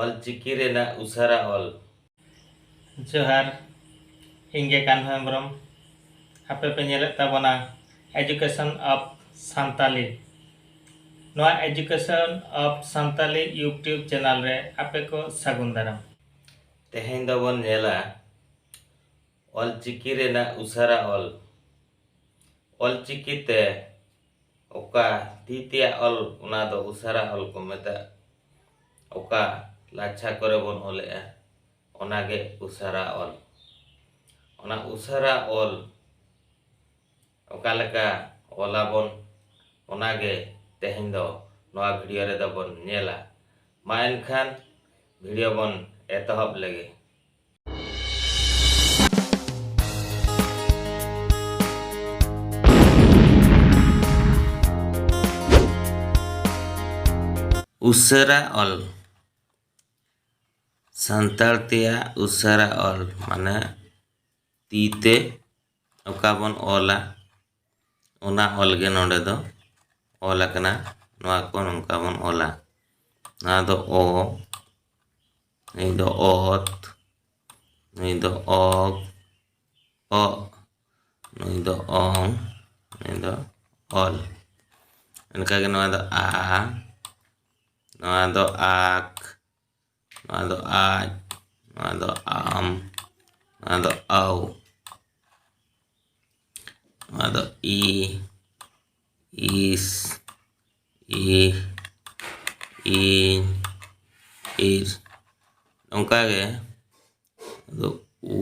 ᱚᱞ ᱪᱤᱠᱤ ᱨᱮᱱᱟᱜ ᱩᱥᱟᱹᱨᱟ ᱚᱞ ᱡᱚᱦᱟᱨ ᱤᱧ ᱜᱮ ᱠᱟᱱᱦᱚ ᱦᱮᱢᱵᱨᱚᱢ ᱟᱯᱮ ᱯᱮ ᱧᱮᱞᱮᱫ ᱛᱟᱵᱚᱱᱟ ᱮᱡᱩᱠᱮᱥᱚᱱ ᱚᱯᱷ ᱥᱟᱱᱛᱟᱞᱤ ᱱᱚᱣᱟ education of Santali YouTube channel ᱨᱮ ᱟᱯᱮ ᱠᱚ ᱥᱟᱹᱜᱩᱱ ᱫᱟᱨᱟᱢ ᱛᱮᱦᱮᱧ ᱫᱚᱵᱚᱱ ᱧᱮᱞᱟ ᱚᱞ ᱪᱤᱠᱤ ᱨᱮᱱᱟᱜ ᱩᱥᱟᱹᱨᱟ ᱚᱞ ᱚᱞ ᱪᱤᱠᱤ ᱛᱮ ᱚᱠᱟ ᱛᱤ ᱛᱮᱭᱟᱜ ᱚᱞ ᱚᱱᱟ ᱫᱚ ᱩᱥᱟᱨᱟ ᱚᱞ ᱠᱚ ᱢᱮᱛᱟᱜ ᱚᱠᱟ ᱞᱟᱪᱷᱟ ᱠᱚᱨᱮ ᱵᱚᱱ ᱚᱞᱮᱜᱼᱟ ᱚᱱᱟ ᱜᱮ ᱩᱥᱟᱨᱟ ᱚᱞ ᱚᱱᱟ ᱩᱥᱟᱨᱟ ᱚᱞ ᱚᱠᱟ ᱞᱮᱠᱟ ᱚᱞᱟᱵᱚᱱ ᱚᱱᱟ ᱜᱮ ᱛᱮᱦᱮᱧ ᱫᱚ ᱱᱚᱣᱟ ᱵᱷᱤᱰᱤᱭᱳ ᱨᱮᱫᱚ ᱵᱚᱱ ᱧᱮᱞᱟ ᱢᱟ ᱮᱱᱠᱷᱟᱱ ᱵᱷᱤᱰᱤᱭᱳ ᱵᱚᱱ ᱮᱛᱚᱦᱚᱵ ᱞᱮᱜᱮ ᱩᱥᱟᱹᱨᱟ ᱚᱞ ᱥᱟᱱᱛᱟᱲ ᱛᱮᱭᱟᱜ ᱩᱥᱟᱹᱨᱟ ᱚᱞ ᱢᱟᱱᱮ ᱛᱤ ᱛᱮ ᱚᱠᱟ ᱵᱚᱱ ᱚᱞᱟ ᱚᱱᱟ ᱚᱞ ᱜᱮ ᱱᱚᱰᱮ ᱫᱚ ᱚᱞ ᱟᱠᱟᱱᱟ ᱱᱚᱣᱟ ᱠᱚ ᱱᱚᱝᱠᱟ ᱵᱚᱱ ᱚᱞᱟ ᱱᱚᱣᱟ ᱫᱚ ᱚ ᱱᱩᱭ ᱫᱚ ᱚᱛ ᱱᱩᱭ ᱫᱚ ᱚᱜ ᱚ ᱱᱩᱭ ᱫᱚ ᱚᱝ ᱱᱩᱭ ᱫᱚ ᱚᱞ ᱚᱱᱠᱟᱜᱮ ᱱᱚᱣᱟ ᱫᱚ ᱟ ᱱᱚᱣᱟ ᱫᱚ ᱟᱠ ᱱᱚᱣᱟ ᱫᱚ ᱟᱡ ᱱᱚᱣᱟ ᱫᱚ ᱟᱢ ᱱᱚᱣᱟ ᱫᱚ ᱟᱣ ᱱᱚᱣᱟ ᱫᱚ ᱤ ᱤᱥ ᱤ ᱤᱧ ᱤᱨ ᱱᱚᱝᱠᱟᱜᱮ ᱟᱫᱚ ᱩ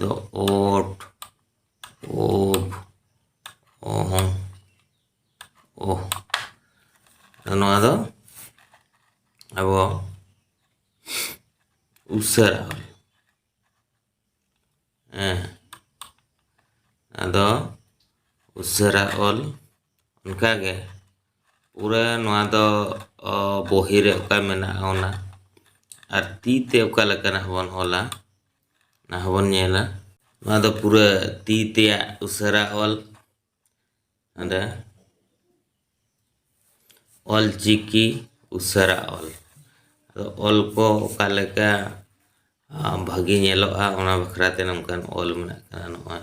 ᱫᱚ ᱳᱴ ᱳᱵ ᱚᱦᱚᱝ ᱳᱦ ᱱᱚᱣᱟ ᱫᱚ ᱟᱵᱚ ᱩᱥᱟᱹᱨᱟ ᱦᱮᱸ ᱟᱫᱚ ᱩᱥᱟᱹᱨᱟ ᱚᱞ ᱚᱱᱠᱟᱜᱮ ᱯᱩᱨᱟᱹ ᱱᱚᱣᱟ ᱫᱚ ᱵᱚᱦᱤ ᱨᱮ ᱚᱠᱟ ᱢᱮᱱᱟᱜᱼᱟ ᱚᱱᱟ ᱟᱨ ᱛᱤ ᱛᱮ ᱚᱠᱟ ᱞᱮᱠᱟᱱᱟᱜ ᱵᱚᱱ ᱚᱞᱟ ᱚᱱᱟ ᱦᱚᱸᱵᱚᱱ ᱧᱮᱞᱟ ᱱᱚᱣᱟ ᱫᱚ ᱯᱩᱨᱟᱹ ᱛᱤ ᱛᱮᱭᱟᱜ ᱩᱥᱟᱹᱨᱟ ᱚᱞ ᱚᱸᱰᱮ ᱚᱞ ᱪᱤᱠᱤ ᱩᱥᱟᱹᱨᱟ ᱚᱞ ᱟᱫᱚ ᱚᱞ ᱠᱚ ᱚᱠᱟ ᱞᱮᱠᱟ ᱵᱷᱟᱹᱜᱤ ᱧᱮᱞᱚᱜᱼᱟ ᱚᱱᱟ ᱵᱟᱠᱷᱨᱟᱛᱮ ᱱᱚᱝᱠᱟᱱ ᱚᱞ ᱢᱮᱱᱟᱜ ᱠᱟᱫᱟ ᱱᱚᱜᱼᱚᱭ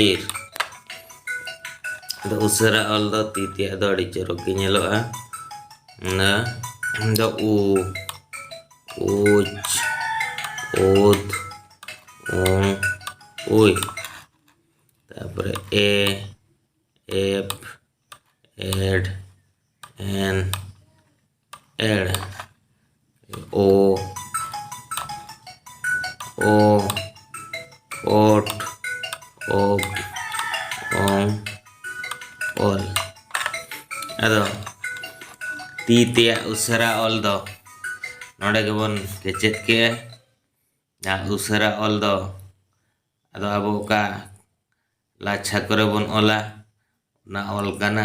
ᱤᱨ ᱫᱚ ᱩᱥᱟᱹᱨᱟ ᱚᱞ ᱫᱚ ᱛᱤ ᱛᱮᱭᱟᱜ ᱫᱚ ᱟᱹᱰᱤ ᱪᱚᱨᱚᱠ ᱜᱮ ᱧᱮᱞᱚᱜᱼᱟ ᱚᱱᱟ ᱫᱚ ᱩ ᱩᱪ ᱩᱫ ᱩᱝ ᱩᱭ ᱛᱟᱨᱯᱚᱨᱮ ᱮ ᱮᱯ ᱮᱰ ᱮᱱ ᱮᱲ ᱳ ᱳ ᱳᱴ ᱳᱯ ᱳᱝ ᱳᱞ ᱟᱫᱚ ᱛᱤ ᱛᱮᱭᱟᱜ ᱩᱥᱟᱹᱨᱟ ᱚᱞ ᱫᱚ ᱱᱚᱰᱮ ᱜᱮᱵᱚᱱ ᱠᱮᱪᱮᱫ ᱠᱮᱜᱼᱟ ᱡᱟᱦᱟᱸ ᱩᱥᱟᱹᱨᱟ ᱚᱞ ᱫᱚ ᱟᱫᱚ ᱟᱵᱚ ᱚᱠᱟ ᱞᱟᱪᱷᱟ ᱠᱚᱨᱮ ᱵᱚᱱ ᱚᱞᱟ ᱚᱱᱟ ᱚᱞ ᱠᱟᱱᱟ